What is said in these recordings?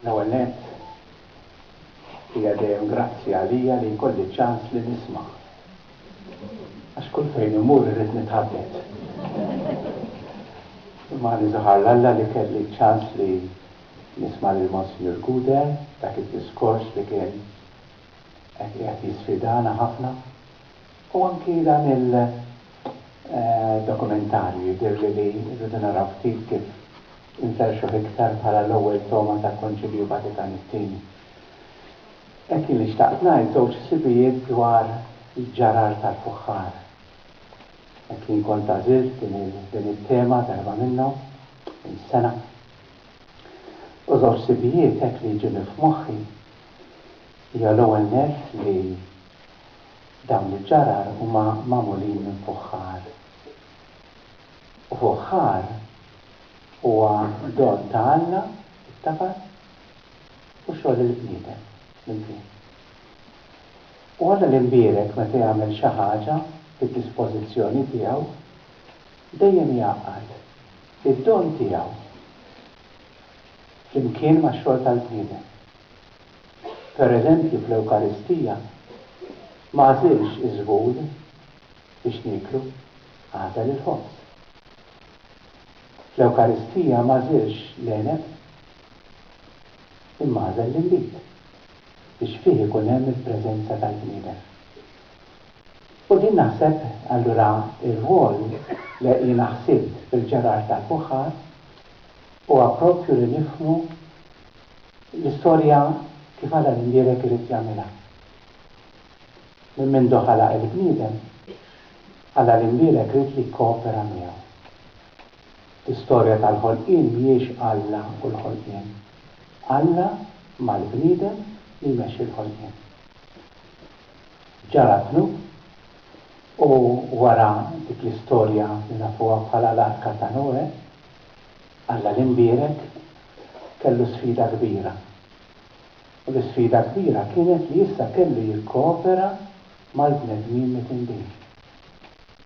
L-ewwel nett, hija dejjem grazzja għalija li jkolli ċ-ċans li nisma'. Għax kull fejn immur irrid nitħaddet. Imma niżohar 'l Alla li kelli ċ-ċans li nisma' lil Monsinjur Guder f'dak id-diskors li kien qed qiegħed jisfidana ħafna. U anki dan il-dokumentarju jidhirli li rridu naraw ftit kif inferrxuh iktar bħala l-ewwel togħma tal-Konċilju Vatikan it-Tieni. Hekk jien li xtaqt ngħid żewġ ħsibijiet dwar l-ġġarar tal-fuħħar. Hekk jien kont għażilt din it-tema darba minnhom, minn sena. U żewġ ħsibijiet hekk li jġuni f'moħħi hija l-ewwel nett li, Dawn l-iġġarar huma magħmulin minn fuħħar. U fuħħar huwa don ta' Alla, it-tabas, u xogħol il-bniedem flimkien. U Alla l-Imbierek meta jagħmel xi ħaġa bid-dispożizzjoni tiegħu, dejjem jgħaqqad id-don tiegħu flimkien max-xogħol tal-bniedem. pereżempju fl-Ewkaristija, ma għażilx iż-żhud biex nieklu, għażel il-ħobż. Fl-Ewkaristija m'għażilx l-għeneb, imma għażel l-inbid, biex fih ikun hemm il-preżenza tal-bniedem. U din naħseb allura r-rwol li jiena ħsibt fil-ġerar tal-fuħħar huwa proprju li nifhmu, L-istorja kif għadha li mdierek irid jagħmilha. Minn mindu ħalaq il-bniedem, Alla li mdierek ried li jkkoopera miegħu. L-istorja tal-ħolqien mhijiex Alla u l-ħolqien. Alla mal-bniedem li jmexxi l-ħolqien. Ġara d-dnub u wara dik l-istorja li nafuha bħala l-Arka ta' Noè, Alla l-Imbierek kellu sfida kbira. U l-isfida kbira kienet li issa kellu jikkoopera mal-bnedmin mitindin.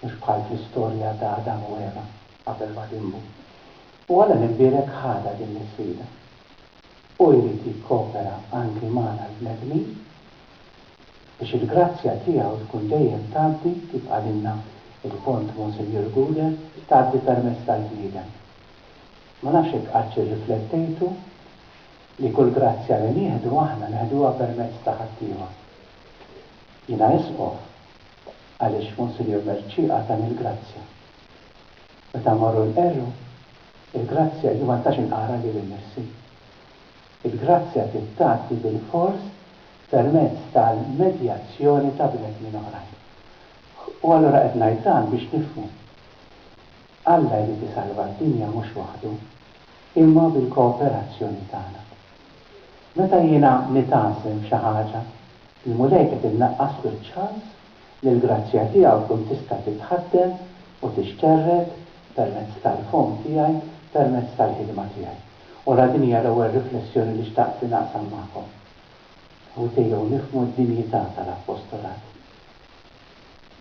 Mhux bħal fl-istorja ta' Adam u Eva qabel ma dinbu. U Alla l-Imbierek ħadha din l-isfida. Hu jrid jikkoopera anki magħna l-bnedmin. Biex il-grazzja tiegħu tkun dejjem tgħaddi, kif qalilna il-Kont Monsinjur Guder, tgħaddi permezz tal-bniedem. Ma nafx jekk qattx irriflettejtu li kull grazzja li nieħdu aħna neħduha permezz ta' ħaddiema. Jiena Isqof għaliex Monsinjur Mercieq għatani l-grazzja. Meta mmorru nqerru, il-grazzja jien ma nistax inqara lili nnifsi. Il-grazzja trid tgħaddi bilfors permezz tal-medjazzjoni ta' bnedmin oħrajn. U allura qed ngħid dan biex nifhmu. Alla jrid isalva d-dinja mhux waħdu, imma bil-kooperazzjoni tagħna. Meta jiena nitgħażżen f'xi ħaġa, il-Mulej qed innaqqaslu ċ-ċans li l-grazzja tiegħu tkun tista' titħaddem u tixterred permezz tal-fomm tiegħi, permezz tal-ħidma tiegħi. U ra din hija l-ewwel riflessjoni li xtaqt li naqsam magħkom. Ħuti, jew nifhmu d-dinjità tal-appostolat,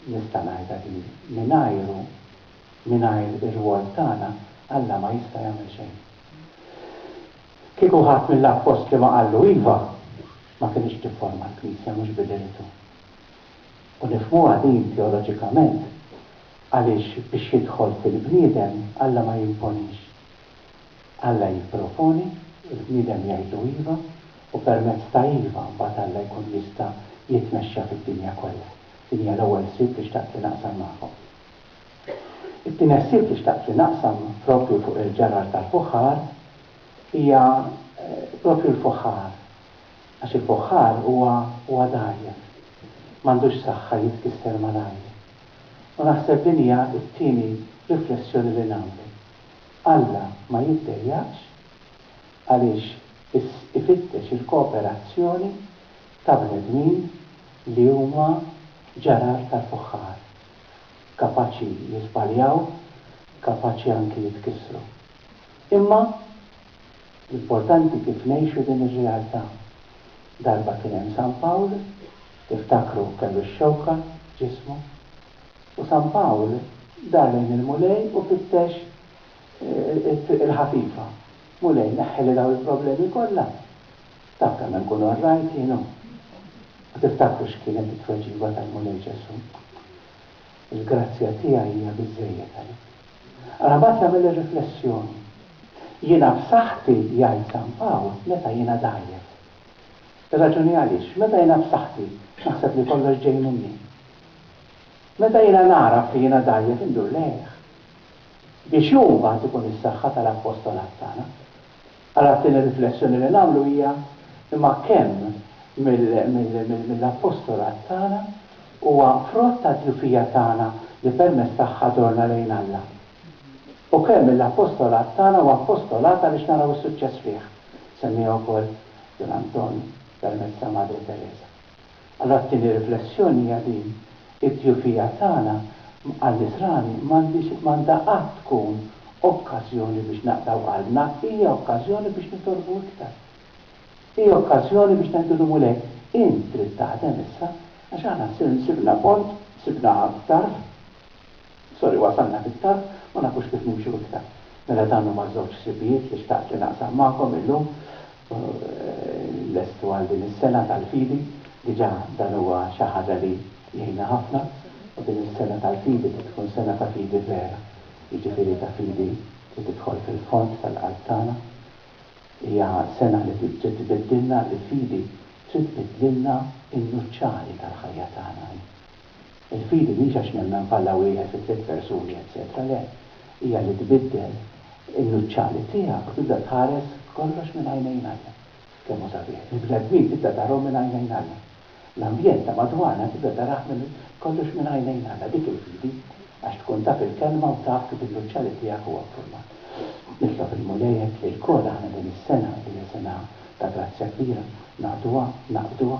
nista' ngħidha din, mingħajru, mingħajr ir-rwol tagħna, Alla ma jista' jagħmel xejn. Kieku ħadd mill-appostli ma qallu iva, ma kinitx tifforma l-Knisja mhux b'idejtu. U nifhmuha din teoloġikament, għaliex biex jidħol fil-bniedem, Alla ma jimponix. Alla jipproponi, il-bniedem jgħidlu iva, u permezz ta' iva mbagħad Alla jkun jista' jitmexxa fid-dinja kollha. Din hija l-ewwel ħsieb li xtaqt li naqsam magħkom. It-tieni ħsieb li xtaqt li naqsam proprju fuq il-ġarrar tal-fuħħar hija proprju l-fuħħar, għax il-fuħħar huwa huwa dgħajjef, m'għandux saħħa jitkisser malajr. U naħseb din hija t-tieni riflessjoni li nagħmlu. Alla ma jiddejjaqx għaliex ifittex il-kooperazzjoni ta' bnedmin li huma ġarar tal-fuħħar, kapaċi jiżbaljaw, kapaċi anki jitkissru. Imma l-importanti kif ngħixu din ir-realtà. Darba kien hemm San Pawl, tiftakru kellu x-xewka f'ġismu. U San Pawl dar lejn il-Mulej u fittex it-triq il-ħafifa. Mulej, neħħili dawn il-problemi kollha. Taf kemm inkun orrajt jien hu. U tiftakru x'kienet it-tweġiba tal-Mulej Ġesù? Il-grazzja tiegħi hija biżżejjed għalik. Ara mbagħad jagħmel ir-riflessjoni. Jiena b'saħħti, jgħid San Pawl, meta jiena dgħajjef. Irraġuni għaliex, meta jiena b'saħħti, x'naħseb li kollox ġej minni. Meta jiena nagħraf li jiena dgħajjef indur lejh. Biex hu mbagħad ikun is-saħħa tal-appostolat tagħna. Allora t-tieni riflessjoni li nagħmlu hija, imma kemm mill-appostolat tagħna huwa frott tad-djufija tagħna li permezz tagħha dorna lejn Alla? U kemm mill-appostolat tagħna huwa appostolat għaliex naraw is-suċċess fih? Semmiha wkoll Dun Anton permezz ta' Madre Tereża. Allura t-tieni riflessjoni hija din, it-tjufija tagħna għan-nisrani m'għandhiex m'għandha qatt tkun okkażjoni biex naqtgħu qalbna, hija okkażjoni biex nitolbu iktar. Hija okkażjoni biex ngħidu lil Mulej, int trid taħdem issa għax aħna sibna pont, sibna tarf. Sorry, wasalna fit-tarf, ma nafux kif nimxu iktar. Mela dawn huma żewġ ħsibijiet li xtaqt li naqsam magħkom illum. Lestu għal din is-sena tal-fidi. Diġà dan huwa xi ħaġa li jgħinna ħafna. U din is-sena tal-fidi trid tkun sena ta' fidi vera. Jiġifieri ta' fidi li tidħol fil-fond tal-qalb tagħna. Hija sena li trid tbiddilna, il-fidi trid tbiddlilna n-nuċċali tal-ħajja tagħna. Il-fidi mhijiex għax nemmel f'Alla wieħed fi tliet persuni eċċetera, le, hija li tbiddel in-nuċċali tiegħek u tibda tħares kollox minn għajnejn Alla. Kemm hu sabiħ! Il-bnedmin tibda tarahom minn għajnejn Alla. L-ambjent ta' madwarna tibda tarah minn kollox minn għajnejn Alla. Dik il-fidi, għax tkun taf il-Kelma u taf kif in-nuċċali tiegħek huwa ffurmat. Nitlob il-Mulej hekk li lkoll aħna din is-sena li hija sena ta' grazzja kbira, naqduha, naqbduha,